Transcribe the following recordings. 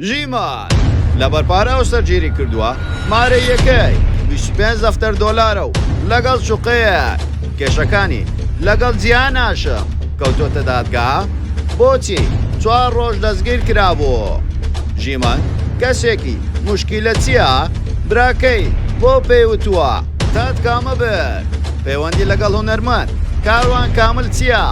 ژیمار لەبەر پارە هاوسەرگیری کردووە، مارەییەکەی بیست و پێنج دەفتەر دۆلارە و لەگەڵ شوقەیەک، کێشەکانی لەگەڵ جیهان هاشم کەوتۆتە دادگا، بۆچی چوار ڕۆژ دەستگیر کرابوو؟ ژیمار کەسێکی موشکیلە چییە؟ براکەی بۆ پێی وتووە؟ دادگا مەبەر پەیوەندی لەگەڵ هونەرمەند کاروان کامل چییە؟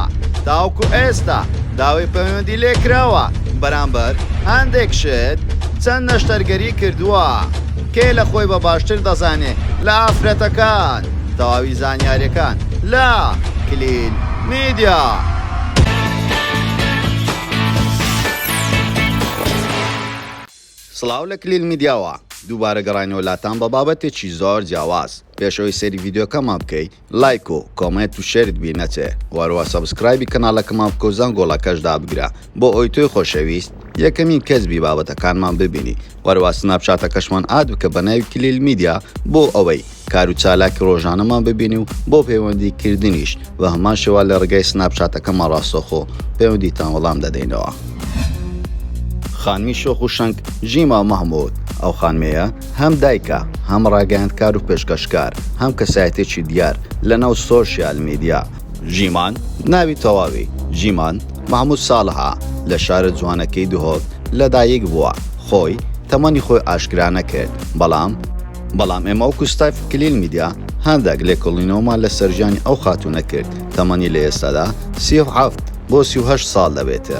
تاوەکو ئێستا داوای پەیوەندی لێکراوە؟ بەرامبەر هەندێک شت چەند نەشتەرگەری کردووە کێ لە خۆی بە باشتر دەزانێ لە ئافرەتەکان تەواوی زانیارەکان لە کلیل میدیا. سڵاو لە کلیل میدیاوە دووبارە گەڕاینەوە لاتان بە بابەتێکی زۆر جیاواز پێش ئەوەی سەیری ڤیدیۆکەمان بکەی لایک و کۆمێنت و شێرت بیر نەچێ وەروە سەبسکرایبی کەناڵەکەمان بکە و زەنگۆڵەکەش دابگرە بۆ ئەوەی تۆی خۆشەویست یەکەمین کەس بی بابەتەکانمان ببینی وەروە سناپچاتەکەشمان ئاد بکە بە ناوی کلیل میدیا بۆ ئەوەی کار و چالاکی ڕۆژانەمان ببینی و بۆ پەیوەندی کردنیش بە هەمان شێوە لە ڕێگای سناپ چاتەکەمان ڕاستەوخۆ پەیوەندیتان وەڵام دەدەینەوە. خانمی شۆخ و شەنگ ژیما مەحمود، ئەو خانمەیە هەم دایکە، هەم ڕاگەیاندکار و پێشکەشکار، هەم کەسایەتیەکی دیار لە ناو سۆشیال میدیا، ژیمان، ناوی تەواوی، ژیمان مەحمود ساڵح، ە، لە شارە جوانەکەی دهۆک لە دایک بووە، خۆی تەمەنی خۆی ئاشکرا نەکرد، بەڵام، بەڵام ئێمە وەکو ستایف کلیل میدیا هاندەک لێکۆڵینەوەمان لەسەر ژیانی ئەو خاتوونە کرد تەمەنی لە ئێستادا سی و حەفت بۆ سی و هەشت ساڵ دەبێتە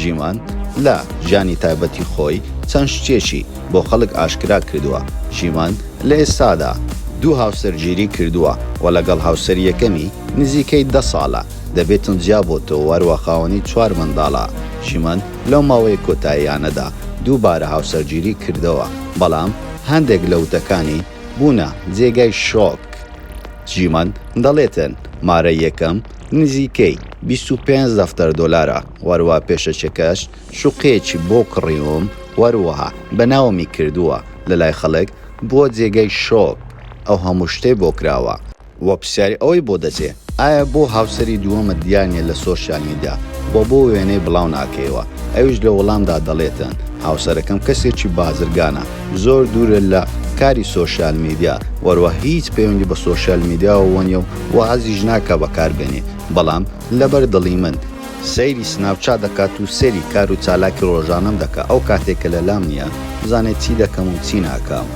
ژیوان لە ژیانی تایبەتی خۆی چەند شتێکی بۆ خەڵک ئاشکرا کردووە ژیوان لە ئێستادا دوو هاوسەر گیری کردووە و لەگەڵ هاوسەری یەکەمی نزیکەی دە ساڵە دەبێتن جیا بۆتەوە و هەروە خاوەنی چوار منداڵە ژیوان لەو ماوەیە کۆتاییانەدا دووبارە هاوسەرگیری کردەوە بەڵام هەندێک لە وتەکانی بوونە جێگای شۆک. جیمن دەڵێتن مارە یەکەم نزیکەی بیست و پێنج دەفتەر دۆلارە، وەروا پێشەکیەکەش شوقەیەکی بۆ کڕیوم وەروەها بەناومی کردووە لەلای خەڵک بووە جێگای شۆک ئەو هەموو شتەی بۆ کراوە. وە پرسیاری ئەوەی بۆ دەچێ ئایا بۆ هاوسەری دووەمت دیار نیە لە سۆشیال میدیا وە بۆ وێنەی بڵاو ناکەیەوە ئەویش لە وەڵامدا دەڵێتن هاوسەرەکەم کەسێکی بازرگانە زۆر دوورە لە کاری سۆشیال میدیا وەروە هیچ پەیوەندی بە سۆشیال میدیاوە وەنیە و وازیش ناکا بەکار بێنێ بەڵام لەبەر دڵی من سەیری سناپچات دەکات و سەیری کار و چالاکی ڕۆژانەم دەکات ئەو کاتەی کە لە لام نییە بزانێت چی دەکەم و چی ناکام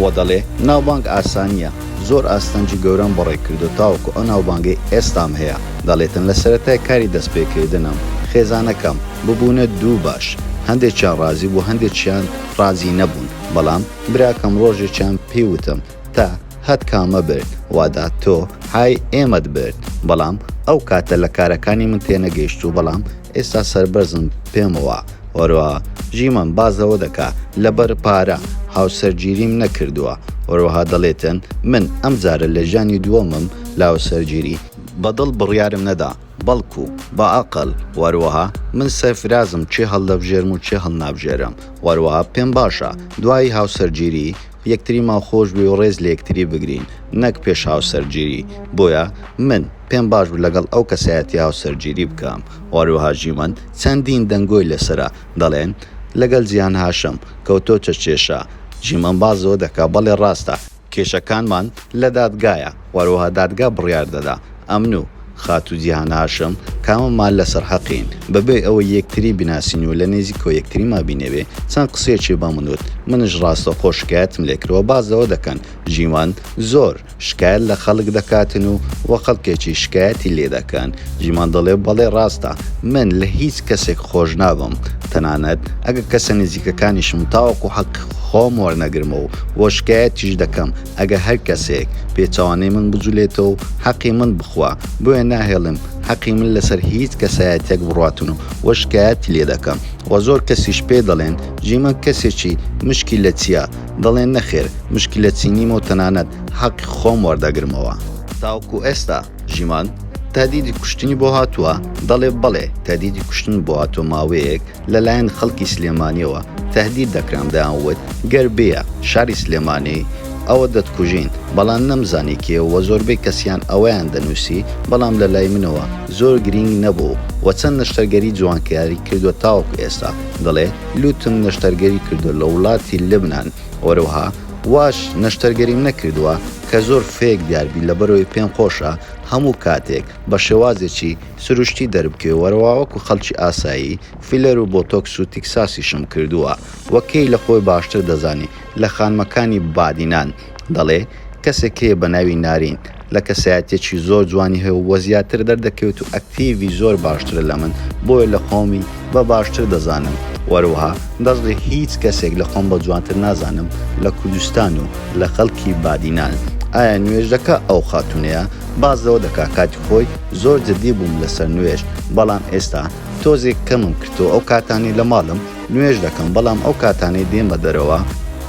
وە دەڵێ ناوبانگ ئاسانییە زۆر ئاستەنگی گەورەم بەڕێ کردووە تاوەکو ئەو ناوبانگەی ئێستام هەیە دەڵێتن لە سەرەتای کاری دەست پێ کردنم خێزانەکەم ببوونە دوو باش هەندێکیان ڕازی بوو هەندێکیان ڕازی نەبوون بەڵام براکەم ڕۆژێکیان پێی وتم تا هەت کامە برد وادا تۆ های ئێمەت برد بەڵام ئەو کاتە لە کارەکانی من تێنەگەیشت و بەڵام ئێستا سربەرزم پێمەوە وەروە ژیمەم بازەوە دەکا لەبەر پارە هاوسەرگیریم نەکردووە وەروەها دەڵێتن من ئەم جارە لە ژانی دووەمم لاوسەرگیری بەدڵ بڕیارم نەدا بەڵکو بە ئەقل وەروەها من سەرفرازم چێ هەڵدەبژێرم و چێ هەڵنابژێرم وەروەها پێم باشە دوایی هاوسەرگیری یەکتریمان خۆش بوێ و ڕێز لە یەکتری بگرین نەک پێش هاوسەرگیری بۆیە من پێم باش بوو لەگەڵ ئەو کەسایەتیە هاوسەرگیری بکەم و هەروەها ژیمەند چەندین دەنگۆی لەسەرە دەڵێن لەگەڵ جیهان هاشم کەوتۆتە کێشە ژیمەند باس لەوە دەکا بەڵێ ڕاستە کێشەکانمان لە دادگایە. هەروەها دادگا بڕیار دەدا ئەمن و خاتوو جیهان هاشم کاممان لەسەر حەقین، بەبێ ئەوەی یەکتری بناسین و لە نێزیکەوە یەکتریمان بینێبێ، چەند قسەیەکی بەمن وت، منیش ڕاستەوخۆ شکایەتم لێ کردەوە باس لەوە دەکەن ژیوان زۆر شکایەت لە خەڵک دەکاتن و و خەڵکێکی شکایەتی لێ دەکەن، ژیوان دەڵێ بەڵێ ڕاستە من لە هیچ کەسێک خۆش نابم تەنانەت ئەگەر کەسە نێزیکەکانیشم تاوەکو حەقی خۆم وەرنەگرمەوە و شکایەتیش دەکەم، ئەگە هەر کەسێک پێچەوانەی من بجولێتەوە حەقی من بخوا بۆیە ناهێڵم حەقی من لەسەر هیچ کەسایەتێک بڕاتون و وە شکایەتی لێ دەکەم وە زۆر کەسیش پێ دەڵێن ژیمەن کەسێکی مشکی لە چیە دەڵێن نەخێر مشکی لە چی نیمە و تەنانەت حەقی خۆم وەردەگرمەوە تاوەکو ئێستا ژیمان، تەهدیدی کوشتنی بۆ هاتووە؟ دەڵێ، بەڵێ، تەهدیدی کوشتنم بۆ هاتووە، ماوەیەک لە لایەن خەڵکی سلێمانییەوە تەهدید دەکرام، دەیان وت گەر بێیە شاری سلێمانی ئەوە دەتکوژین، بەڵام نەمزانی کێ و زۆربەی کەسیان ئەوەیان دەنووسی، بەڵام لە لای منەوە زۆر گرینگ نەبوو و چەند نەشتەرگەری جوانکاری کردووە تاوەکو ئێستا، دەڵێ، لوتم نەشتەرگەری کردووە لە وڵاتی لبنان، وەروەها. واش نەشتەرگەریم نەکردوە کە زۆر فێک دیار بی لەبەرەوەی پێم خۆشە هەموو کاتێک بە شێوازێکی سروشتی دەربکەوی وەرەوا وەکو خەڵکی ئاسایی فیلەر و بۆتۆکس و تیکساسیشم کردوە و کەی لە خۆی باشتر دەزانی لە خانمەکانی بادینان دەڵێ کەسێک هەیە بە ناوی نارین لە کەسایەتیەکی زۆر جوانی هەیە و بۆ زیاتر دەردەکەوێت و ئەکتیڤی زۆر باشترە لە من بۆیە لە خۆمی بە باشتر دەزانم وەروەها دەزڵی هیچ کەسێک لە خۆم بە جوانتر نازانم لە کوردستان و لە خەڵکی بادینان ئایا نوێژ دەکا ئەو خاتونەیە باس لەوە دەکا کاتی خۆی زۆر جدی بووم لەسەر نوێژ بەڵام ئێستا تۆزێک کەمم کردەوە ئەو کاتانەی لە ماڵم نوێژ دەکەم بەڵام ئەو کاتانەی دێمە دەرەوە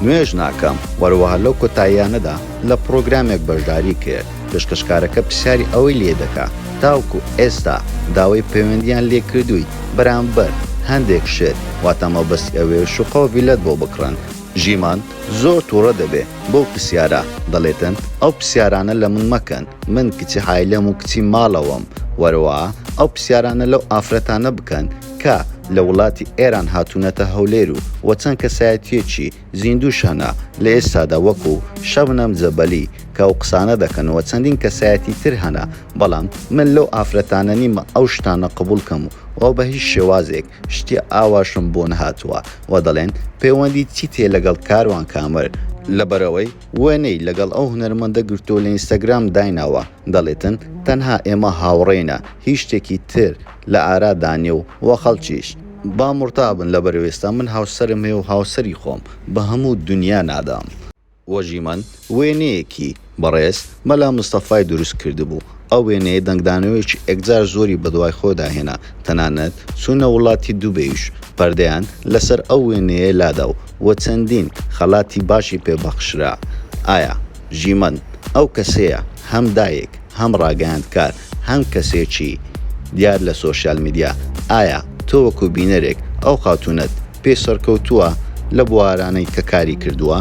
نوێژ ناکەم وەروەها لەو کۆتاییانەدا. لە پڕۆگرامێک بەشداری کرد، پێشکەشکارەکە پرسیاری ئەوەی لێ دەکا تاوەکو ئێستا داوای پەیوەندییان لێ کردووی بەرامبەر هەندێک شت واتە مەبەستی ئەوەیە شوقە و ڤیلەت بۆ بکڕن، ژیمان زۆر توڕە دەبێ بەو پرسیارە دەڵێتن ئەو پرسیارانە لە من مەکەن من کچی عایلەم و کچی ماڵەوەم وەرەوە ئەو پرسیارانە لەو ئافرەتانە بکەن کە لە وڵاتی ئێران هاتوونەتە هەولێر و وە چەند کەسایەتییەکی زیندوو شەنە، لە ئێستادا وەکو، شەبنەم جەبەلی، کە ئەو قسانە دەکەن وە چەندین کەسایەتی تر هەنە، بەڵام من لەو ئافرەتانە نیمە ئەو شتانە قبوڵ کەم وە بە هیچ شێوازێک شتی ئاواشم بۆ نەهاتووە وە دەڵێن پێوەندیت چیتێ لەگەڵ کاروان کامەر، لەبەرئەوەی وێنەی لەگەڵ ئەو هونەرمەندە گرتووە لە ئینستاگرام دایناوە، دەڵێتن تەنها ئێمە هاوڕێینە، هیچ شتێکی تر لە ئارادا نییە و وە خەڵکیش، با مڕتا بن لەبەرئەوەی ئێستا من هاوسەرم هەیە و هاوسەری خۆم بە هەموو دونیا نادەم. وەژیمەن وێنەیەکی بەڕێز مەلا مستەفای دروست کردبوو، ئەو وێنەیە دەنگدانەوەیەکی ئێکجار زۆری بەدوای خۆدا هێنا، تەنانەت چوونە وڵاتی دوبەیش پەردەیان لەسەر ئەو وێنەیە لادا و و چەندین خەڵاتی باشی پێ بەخشرا، ئایا ژیمەند ئەو کەسەیە هەم دایک هەم ڕاگەیاندکار هەم کەسێکی دیار لە سۆشیال میدیا، ئایا تۆ وەکو بینەرێک ئەو خاتوونەت پێ سەرکەوتووە لە بوارانەی کە کاری کردووە؟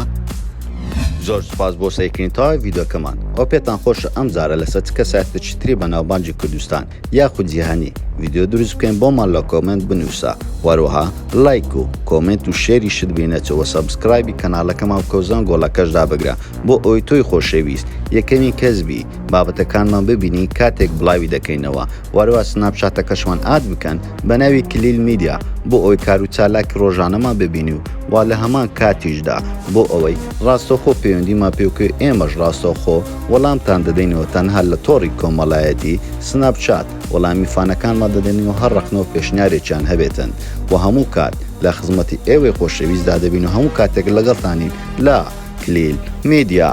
زۆر سوپاس بۆ سەیرکردنی تەواوی ڤیدیۆکەمان وە پێتان خۆشە ئەم جارە لەسەر چ کەسایەتێکی تری بەناوبانگی کوردستان یاخود جیهانی ڤیدیۆ دروست بکەین بۆمان لە کۆمنت بنووسە وەروەها لایک و کۆمنت و شێری شت بینەچەوە سەبسکرایبی کەناڵەکەمان بکەوزان گۆڵەکەشدا بگرە بۆ ئەوی تۆی خۆشەویست یەکەمی کەسبی بابەتەکانمان ببینی کاتێک بڵاوی دەکەینەوە وەروە سناپشاتەکەشمان ئاد بکەن بە ناوی کلیل میدیا بۆ ئەوی کار و چالاکی ڕۆژانەمان ببینی و وا لە هەمان کاتیشدا بۆ ئەوەی ڕاستەخۆ پەیوەندیمان پێوکەوێت ئێمەش ڕاستەخۆ وەڵامتان دەدەینەوە تەنها لە تۆڕی کۆمەڵایەتی، سناپ چات، وەڵامی فانەکانمان دەدەین و هەر ڕەخنە و پێشنیارێکیان هەبێتن و هەموو کات لە خزمەتی ئێوەی خۆشەویستدا دەبین و هەموو کاتێک لەگەڵتانین لە، کلیل میدیا.